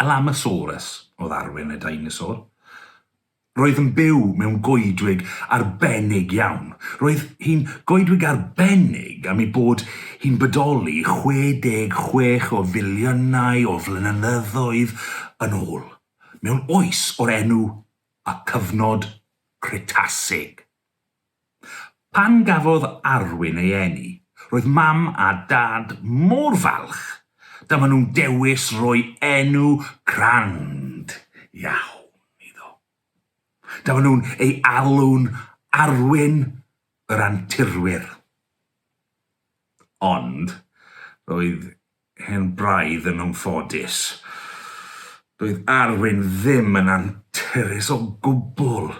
Alamosaurus oedd arwyn y deinosor. Roedd yn byw mewn goedwig arbennig iawn. Roedd hi'n goedwig arbennig am ei bod hi'n bodoli 66 o filiynau o flynyddoedd yn ôl, mewn oes o'r enw y Cyfnod Cretasig. Pan gafodd Arwyn ei eni, roedd Mam a Dad mor falch, da maen nhw'n dewis roi enw grand iawn iddo. Da maen nhw'n ei alw'n Arwyn yr Anturwyr. Ond, roedd hen braidd yn anffodus. Doedd Arwyn ddim yn anturus o gwbl.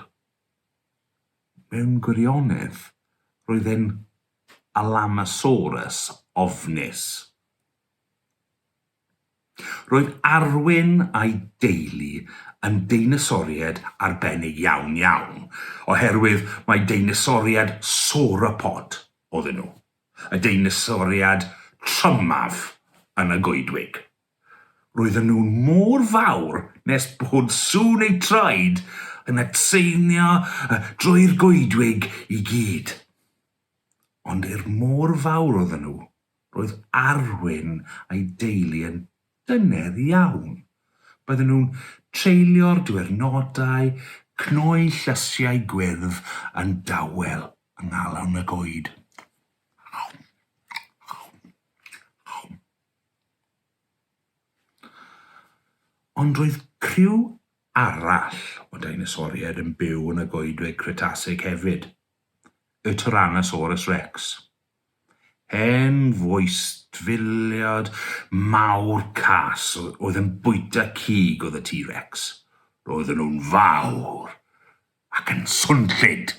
Mewn gwirionedd, roedd e'n Alamosaurus ofnus. Roedd Arwyn a'i deulu yn deinosoriaid arbennig iawn, iawn, oherwydd mai deinosoriaid sauropod oedden nhw, y deinosoriaid trymaf yn y goedwig. Roedden nhw mor fawr nes bod sŵn eu traed yn atseinio drwy'r goedwig i gyd. Ond er mor fawr oedden nhw, roedd Arwyn a'i deulu yn dyner iawn. Bydden nhw'n treulio'r diwyrnodau cnoi llysiau gwyrdd yn dawel yng nghalon y goed. Ond roedd criw arall o deinosoriaid yn byw yn y Goedwig Cretasig hefyd, y Tyrannosaurus Rex. Hen foestfiliad mawr cas oedd yn bwyta cig oedd y T-Rex. Roedden nhw'n fawr, Ac yn swnllyd!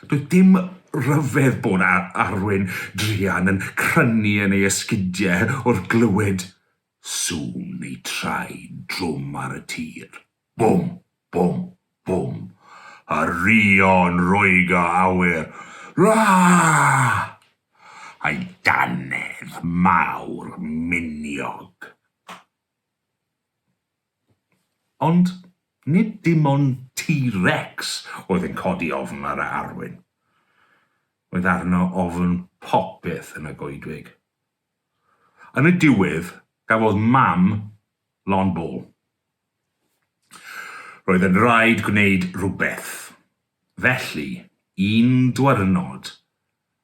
Doedd dim rhyfedd bod Arwyn druan yn crynu yn ei esgidiau wrth glywed sŵn neu traed drwm ar y tir. Bwm! Bwm! Bwm! A rio'n roegr awyr. Raah! A'i dannedd mawr miniog. Ond nid dim ond T-Rex oedd yn codi ofn ar Arwyn. Oedd arno ofn popeth yn y goedwig. Yn y diwedd, gafodd Mam lon bol. Roedd yn rhaid gwneud rhywbeth. Felly, un dwyrnod,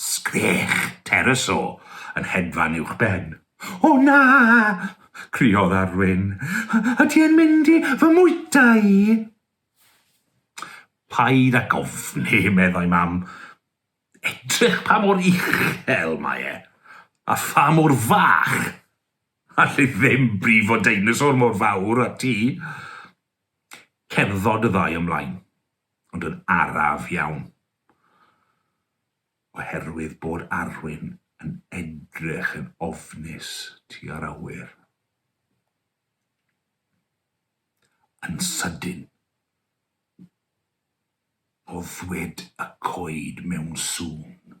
Sgreech Tereso yn hedfan uwch ben. O na! criodd Arwyn. Y ti yn mynd i fy mwyta i? Paid ag ofni, meddai Mam. Edrych pa mor uchel mae e, a pha mor fach. Allai ddim brifo deinosor mor fawr â ti. Cerddod y ddau ymlaen, ond yn araf iawn. Oherwydd bod Arwyn yn edrych yn ofnus tua'r awyr. Yn sydyn, boddwyd y coed mewn sŵn.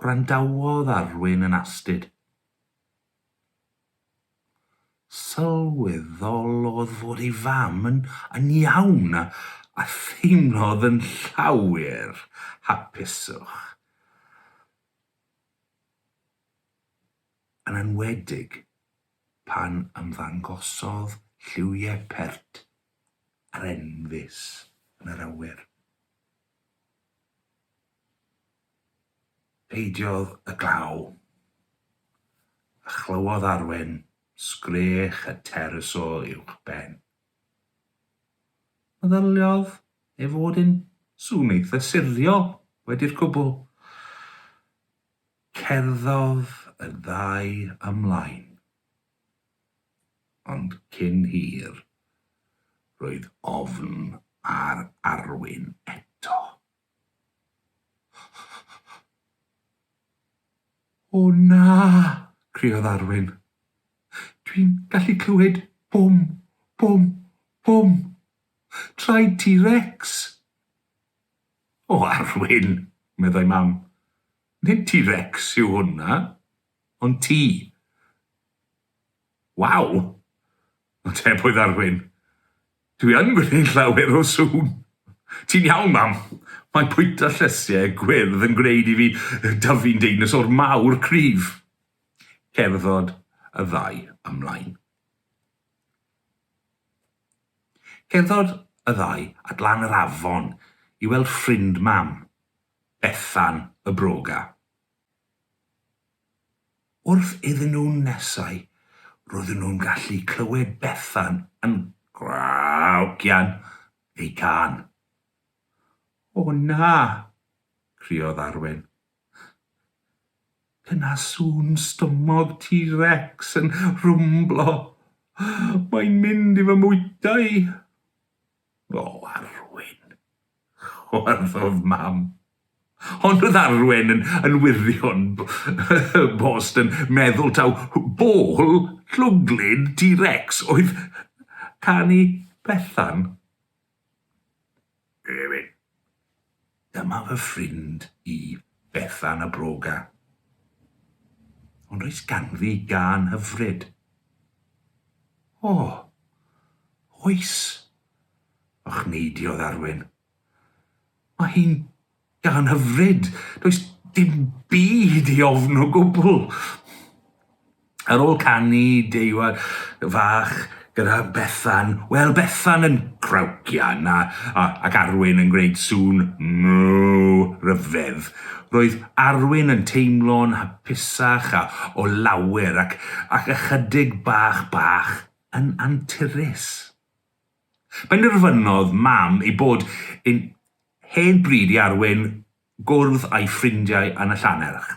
Gwrandawodd Arwyn yn astud. Sylweddolodd fod ei fam yn yn iawn a a theimlodd yn llawer hapuswch. Yn enwedig pan ymddangosodd lliwie pert a'r enfys yn yr awyr. Peidiodd y glaw, a chlywodd Arwen sgrech y terys o uwchben. Meddyliodd ei fod yn sŵn eitha siriol wedi'r cwbl. Cerddodd y ddau ymlaen. Ond cyn hir, roedd ofn ar Arwyn eto. O na! criodd Arwyn. Dwi'n gallu clywed bwm, bwm, bwm! Traed Ti Rex! O Arwyn! meddai Mam. Nid Ti Rex yw hwnna. Ond ti? Waw! Atebodd Arwyn. Dwi yn gwneud llawer o sŵn! Ti'n iawn, Mam! Mae bwyta llysiau gwyrdd yn gwneud i fi dyfu'n deinosor mawr cryf! Cerddod y ddau ymlaen. Cerddod y ddau at lan yr afon i weld ffrind Mam, Bethan y broga. Wrth iddyn nhw nesáu, roedden nhw'n gallu clywed Bethan yn graucian ei gân. O na! criodd Arwen. Dyna sŵn stumog T-Rex yn rhwmblo! Mae'n mynd i fy mwyta i! O, Arwen! chwarddodd Mam. Ond oedd Arwen yn, yn wirion bost yn meddwl taw bol llwglyd T-Rex oedd canu Bethan. Ew-ew. Dyma fy ffrind i, Bethan y broga. Ond oes ganddi gân hyfryd? O! Oes! ochneidiodd Arwyn. Mae hi'n gân hyfryd! Does dim byd i ofn o gwbl! Ar ôl canu deuawd fach gyda Bethan, wel Bethan yn crawcian a, a, ac Arwyn yn gwneud sŵn mww ryfedd, roedd Arwyn yn teimlo'n hapusach a o lawer ac, ac ychydig bach bach yn anturus. Penderfynodd Mam ei bod yn hen bryd i Arwyn gwrdd â'i ffrindiau yn y Llannerch.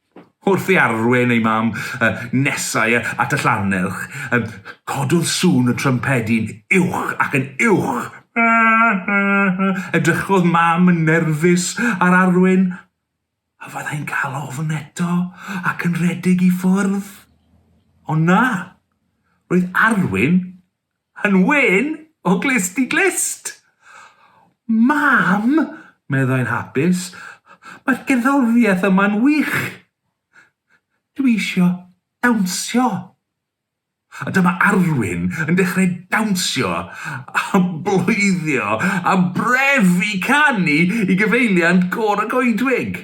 Wrth i Arwen ei mam nesáu at y llannerch, cododd sŵn y trympedi'n uwch ac yn uwch. Edrychodd mam yn nerfus ar Arwen, a fyddai'n cael ofn eto ac yn rhedeg i ffwrdd. Ond na, roedd Arwen Yn wen o glust i glust! Mam! meddai'n hapus, mae'r gerddoriaeth yma'n wych! Dwi isio dawnsio! A dyma Arwyn yn dechrau dawnsio a bloeddio a brefu canu i gyfeiliant Côr y Goedwig.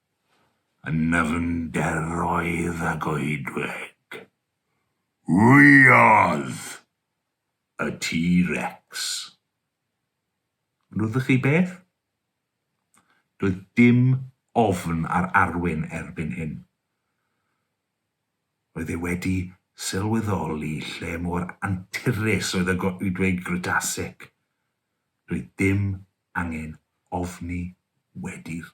yn nyfnderoedd a goedwig. Wyodd! y T-Rex. Gwnodoch chi beth? Doedd dim ofn ar Arwyn erbyn hyn. Roedd e wedi sylweddoli lle mor anturus oedd y goedwig Grytasig. Doedd dim angen ofni wedi'r